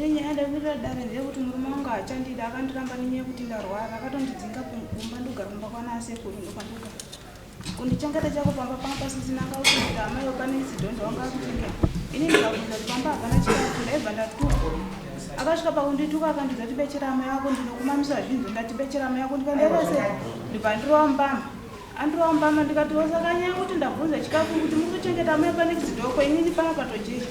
Yenye ada kuita dare ndeyekuti murume wangu haachandida akandiramba nenyaya yekuti ndarwara akatondidzinga kumba ndogara kumba kwana asekuru ndokwandoga Kundichengeta chako pamba pangu pasisina ngaukuita amai wapane zidhonzo wanga akuchengeta. Ini ndikabvunza kuti pamba hapana chikafu ndaibva ndatuka. Akasvika pakundituka akandiudza kuti bechera amai wako ndinokumamisa zvinhu ndati bechera amai wako ndikandiita sei ndibva ndirova mbama. Andirova mbama ndikati wasakanyaya kuti ndabvunza chikafu kuti muri kuchengeta amai pane zidhoko inini panga patojecha.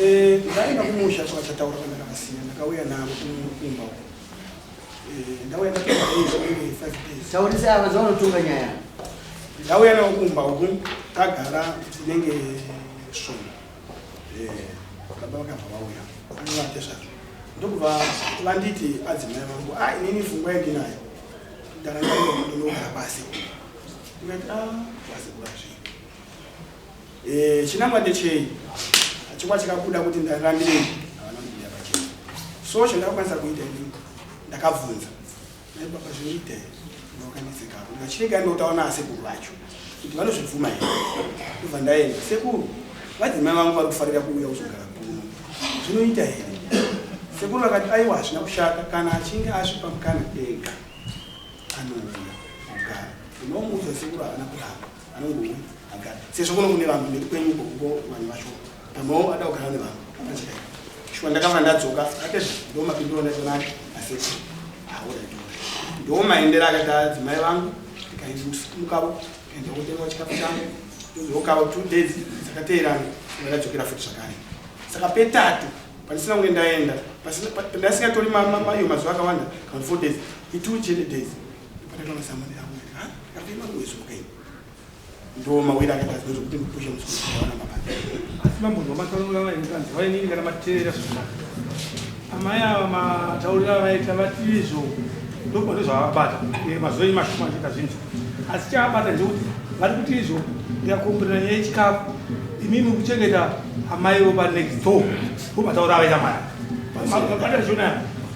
Eh, ndaenda kumusha chakachataura kana ndakasiya ndakauya navo kumba uko. Eh, ndauya ndakuba days only 5 days. Taurise ava zvaunotunga nyaya. Ndauya navo kumba uko tagara tinenge sono. Eh, baba vakabva vauya. Ndovate zvazvo. Ndokubva vanditi adzimai vangu, ah inini fungwa yandinayo. Ndaranga ndinogara pasi. Ndikati ah, pasi kurasvi. Eh, chinangwa ndechei chikwa chikabuda kuti ndarambirei havana kubuda pachena so chandakakwanisa kuita ini ndakabvunza nai baba zvinoita here ndakakanetseka apo ndikachirega ndinotaura naasekuru vacho kuti vanozvibvuma here ndobva ndaenda sekuru vadzimai vangu vari kufarira kuuya kuzogara kuno zvinoita here sekuru vakati aiwa hazvina kushata kana achinge asvipa mukana ega anouya kugara unomuudza sekuru havana kuramba anongouya agara sezvo kuno kune vanhu mberi kwenyu kokuko vanhu vacho pamwewo ada kugara nevanhu apachikai shuwa ndakava ndadzoka atete ndo mapindiro ndaionake aseti auraiti ndo maendera akati adzimai vangu ndikaimukavo enda kutenga chikafu changu ndozokavo two days dzakateerana ndakadzokera futi zvakare saka petatu pandisina kunge ndaenda pandasingatori mayo mazuva akawanda kana four days itwo chete days ndiwo mawiri akaita zvinonzi kuti mupushe musikuawana mabasa asi mambo ndomataurira vaendanzi vainini kana mateerera zvakanaka amai ava mataurira avaita vati izvo ndokuona zvavabata mazuva imashuma achiita zvinhu asi chavabata ndekuti vari kuti izvo ndikakomborera nyaya yechikafu imimi kuchengeta amai vo panext door vomataura avaita mari vamabata zvona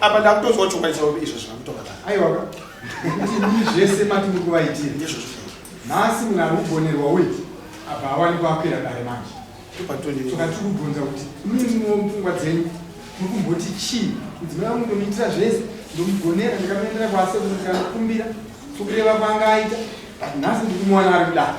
apa ndakutonzwa chokwadi chavo izvo zvakutokata aiwaka ndii zvese mati muri kuvaitira ndizvozvo nhasi munhu ari kugonerwa uyu apa hawani kuakwira dare manje toka tiri kubvunza kuti mumwe mupfungwa dzenyu muri kumboti chii mudzimai wangu ndomuitira zvese ndomugonera ndikatoendera kwasekuru ndikanokumbira sokureva kwanga aita but nhasi ndikumuwana ari kudaro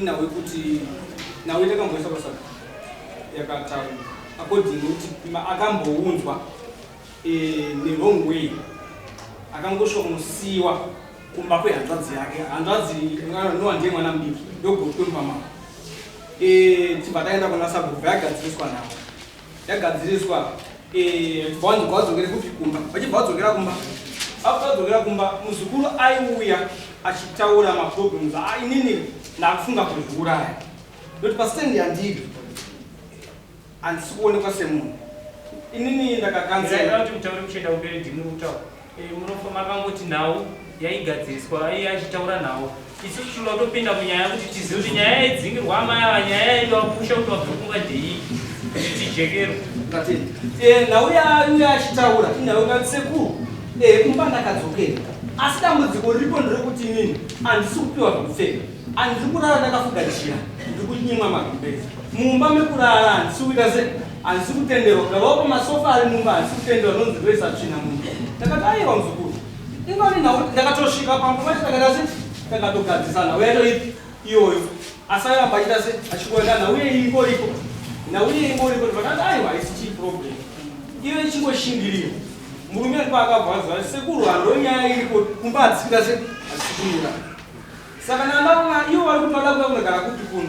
Inhau yekuti nhau yatakamboisa pasaka yakataura according kuti akambounzwa eh, newrong way akangosvonosiwa kumba kwehanzvadzi yake hanzvadzi nowa ndiye mwana mudiki ndogotwe mupamama eh, tibva taenda kuna sabhuku vayagadziriswa navo yagadziriswa eh, bwanzi kwadzokere kupi kumba vachibva vadzokera kumba after vadzokera kumba muzukuru aiuya achitaura maproblems ainini ndakufunga kuzviuraya noti pastand yandiri handisi kuonekwa semunhu inini ndakakanzela Eh, munofa makangoti nhau yaigadziriswa aiye achitaura nhau isu tichinoda kutopinda munyaya kuti tizive kuti nyaya yaidzingirwa amai ava nyaya yaida kupusha kuti wabvekunga dei kuti tijekerwa eh, nhau yaiye achitaura inhau ingati sekuru eh, kumba ndakadzokera asi dambudziko riripo nderekuti inini handisi kupiwa zvekupfeka handiri kurara ndakafuga chira ndiri kunyimwa magumbezi mumba mekurara handisi kuita sei Handisi kutenderwa kuda vaupa masofa ari mumba handisi kutenderwa nonzi ndoisa tsvina mumba. Ndakati aiwa muzukuru. Ingori nhau ndakatosvika pamwe pacho takaita se takatogadzisana uya toipi iyoyo asi airamba achiita se achingoenda nhau iye ingoripo nhau iye ingoripo ndikati aiwa haisi chii problem iyo ichingoshingirira murume ndo akabvazwa sekuru hando nyaya iripo kumba hatisikita se achisikumira saka nandavona ivo vari kutoda kuda kunogara kupi kuno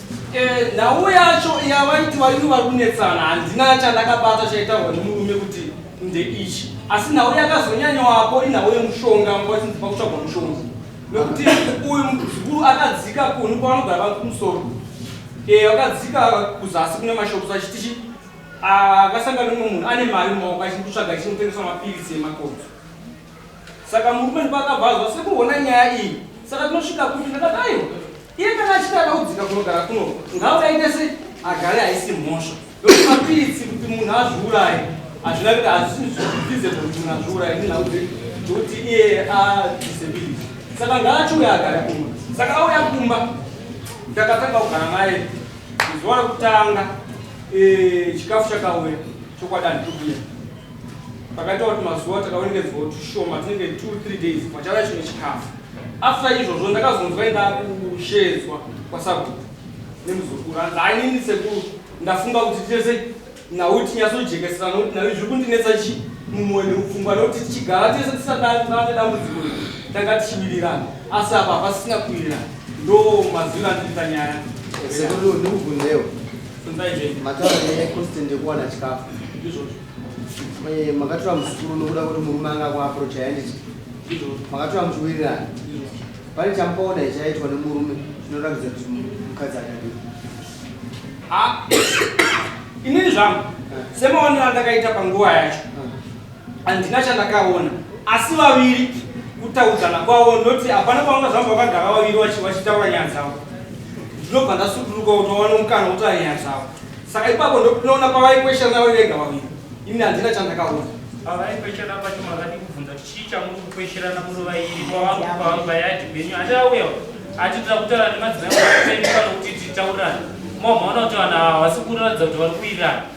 Eh, nhau yacho yavaiti vaini vari kunetsana handina chandakabata chaitaurwa nemurume kuti ndeichi asi nhau yakazonyanyoapo inhau yemushonga mwatinzipa kutsvagwa mushonga nekuti uyu muzukuru akadzika kuni kwavanogara vangu kumusoro eh, vakadzika kuzasi kune mashops achitichi akasanga ah, nemwe munhu ane mari mumaoko achiri kutsvaga chinotengeswa mapiritsi emakodzo Saka murume ndipo akabva azwa sekuona nyaya iyi. Saka tinosvika kupi ndakati aiwa. Iye kana achiti ada kudzika kunogara kuno ngaudaite se agare haisi mhosva. Ndokuti mapiritsi kuti munhu azviuraye hazvina kuti hazvizvize kuti munhu azviuraye nenhau dzekuti iye adisability. Saka ngaachiuya agare kumba. Saka auya kumba ndakatanga kugara naye zuva rekutanga eh, chikafu chakauya chokwadani tokuya Pakaita kuti mazuva takaonekedzwa tushoma tinenge 23 days pachava chimwe chikafu after izvozvo ndakazonzwa indaa kushedzwa kwasabhuku nemuzukuru anzi ainini sekuru ndafunga kuti tese nhau tinyasojekesera nokuti nhau zviri kundinetsa chii mumwoyo nemupfungwa nokuti tichigara tese tisadane dambudziko tanga tichiwirirana asi apa hapasina kuwirirana ndo mazwiro andiriita nyaya sekuru ndikubvunzewo Mataura nekosti ndekuwana chikafu eh, makatora muzukuru nokuda kuti murume anga kuaprocha yanditi makatora muchiwirirana pane chamukaona ichaitwa nemurume zvinoratidza kuti mukadzi akadii ah, inini zvangu eh. semaonero andakaita panguva yacho Handina chandakaona asi vaviri kutaudzana kwavo ndoti hapana pavanga zvamba vakagara vaviri vachitaura nyaya dzavo ndinobva ndasuduruka kuti vawane mukana kutaura nyaya dzavo saka ipapo ndokunoona pavaikweshana vari vega vaviri ini handina chandakaona pavaikweshana pacho makadi kubvunza kuti chii chamuri kukwesherana muri vairi kwavangu kwavangu vayadi benyu handiauya atitira kutaura nemadzimai kana kuti titaurirane mamaona kuti vanhu havasi kuratidza kuti vari kuirana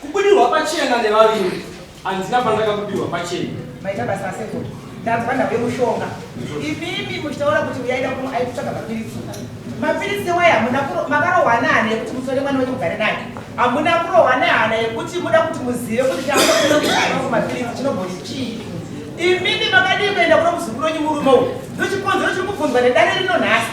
Kubudirwa pachena nevaviri handina pandakabudirwa pachena. Maita basa aseko. Ndanzwa ndave mushonga. Imimi muchitaura kuti uyaida kuno aikutsvaka mapiritsi. Mapiritsi waye hamuna makarohwa nehana yekuti musore mwana wenyu mugare naye. Hamuna kurohwa nehana yekuti muda kuti muzive kuti chaaa mapiritsi chinobhoyi chii. Imimi makadii kuenda kuno muzukuru wenyu murume uyu. Ndochikonzero chiri kubvunzwa nedare rino nhasi.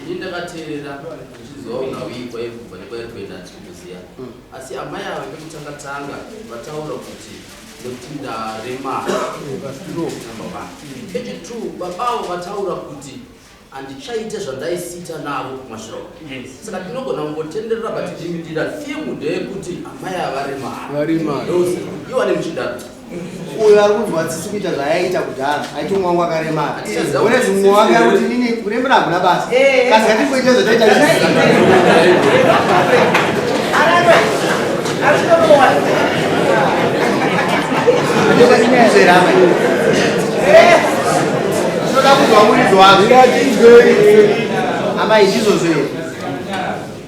Ini ndakateerera ndichizoona uyi kwairi kubva nekwairi kuenda handisi kukuziva hmm. asi amai ava vekutanga tanga vataura kuti nekuti ndarema echitwo baba avo vataura kuti handichaite zvandaisiita navo kumashiroko saka tinogona kungotenderera but ndira thimu ndeyekuti amai ava remara iwane muchidaro uyo ari kunzwa tsitsi kuita zvayaiita kudhara aiti umwe wangu akaremara one zvimwe wake ari kuti nini kurembera hakuna basa kasi katingoita zvotoita zvinoda kunzwa muridzo wake amai ndizvozvo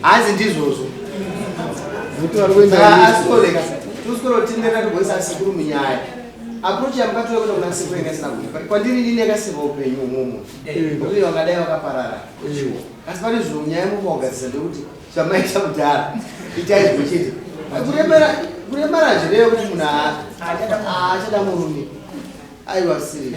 Hanzi ndizvozvo. Mutu ari kuenda. Ah, asikoreka. Tusikoro tindeka kugoisa sikuru munyaya. Approach ya mkato yako na sikuru ingasina kuipa. Kwa ndiri nini akasiva upenyu umumu. Ndio eh. wangadai wakaparara. Eh. Asi pane zvinhu nyaya mukogadzisa ndekuti zvamaita kudhara. Itai zvichiti. Kuremera kuremara zvireyo kuti munhu achada murume. Aiwa siri.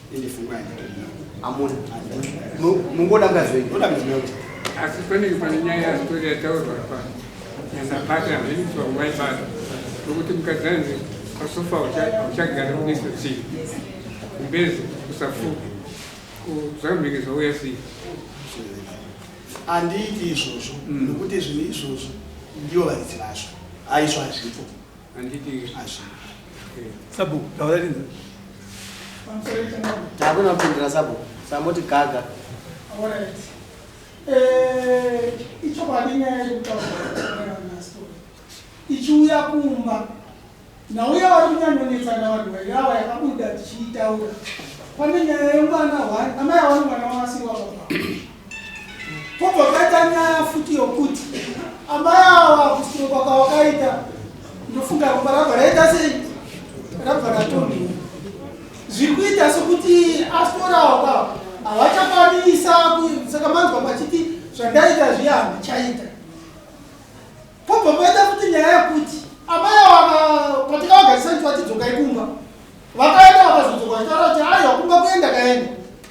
asi pane pane nyaya yasitori yataurwa apa nyasabata zvenyiswa waibata nokuti mukadzi anzi pasofa uchagara uneso chii kumbezo kusafuka kuzambenge zvauya sei handiiti izvozvo mm. nokuti zvinhu izvozvo ndivo varidzi vazvo haizvo hazvipo Anditi Asha. Sabu, taura rinzi. Takuna kupindira sabu. Samoti gaga. All right. Eh, ichokwadi nyaya yekutaura naStory. Ichiuya kumba. Nauya wari kunyanyonetsa navanhu vairava yakabuda tichiitaura. Pane nyaya yemwana one, amai awana mwana wavasiri wababa. Pobva paita nyaya futi yokuti amai awa kusunungwa kwawakaita ndofunga ropa rabva raita sei rabva ratondiwa zviri kuita sokuti asitorawo kwavo havachakwanisa saka manzwa pachiti zvandaita zviya handichaita pobva paita futi nyaya yokuti amai awa patikavagarisa nti vatidzokai kumba vakaenda vakazodzoka vachitaura kuti aiwa kumba kuenda kaenda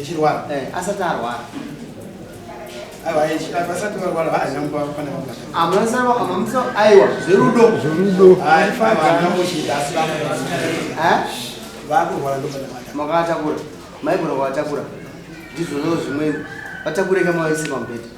echirwara eh, asati arwara aiwa zverudo makaatakura maigona kuvatakura ndizvozvo zvimweni vatakureka mavaise pamubhedha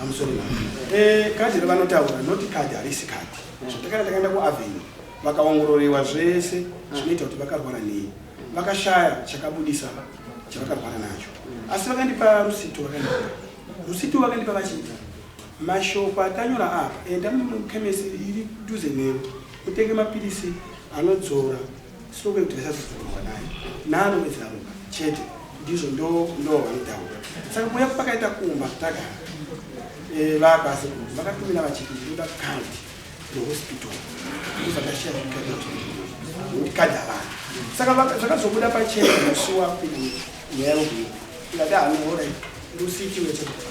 I'm sorry ma'am. Eh, kadhi ravanotaura not kadhi harisi kadhi. Zvatakana takaenda kuAvenue vakaongororewa zvese zvinoita kuti vakarwara nei. Vakashaya chakabudisa chavakarwara nacho. Asi vakandipa rusito vakandipa. Rusito vakandipa vachiti mashoko atanyora apa enda mukhemesi iri duze nemi utenge mapilisi anodzora Soko kuti vasazodzorwa naye nano wezaruka chete ndizvo ndo ndo vaitaura saka kuya pakaita kumba tagara eh, vakasi vakatumira vachiti ndoda kandi rehospital ndozakashiya kadi havana saka zvakazobuda pachena musi wapinda nyaya yokuyo ndati hanoora ndositiwechekufa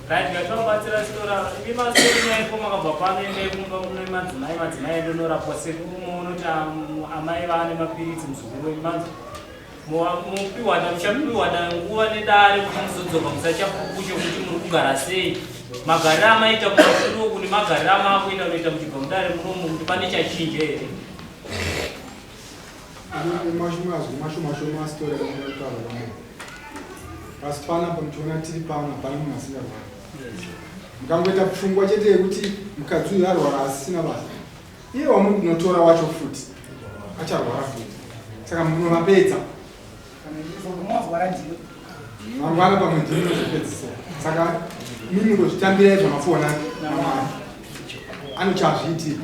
Right, ngativabatsira sitora imi masori nyaiko makabva pano endai kumba kune madzimai madzimai edu norapwa sekuru moonoti amai vaane mapiritsi muzukuru wenyu manzi mupiwana muchapiwana nguva nedare kuti muzodzoka musachapukucho kuti muri kugara sei magariro amaita kumasuru kune magariro amaakuita unoita muchibva mudare munomu kuti pane chachinja here Mazwi mashoma shoma asitori anotaura vamwe. Asi panapa muchiona tiri pano hapana munhu asingarwara. Mukangoita pfungwa chete yekuti mukadzi uyu arwara asisina basa. Iye wamuri kunotora wacho futi acharwara futi. Saka munovapedza. Mangwana pamwe ndimi mozopedzisa. Saka mimi ngozvitambirai zvamafona namwari. Anochazviitira.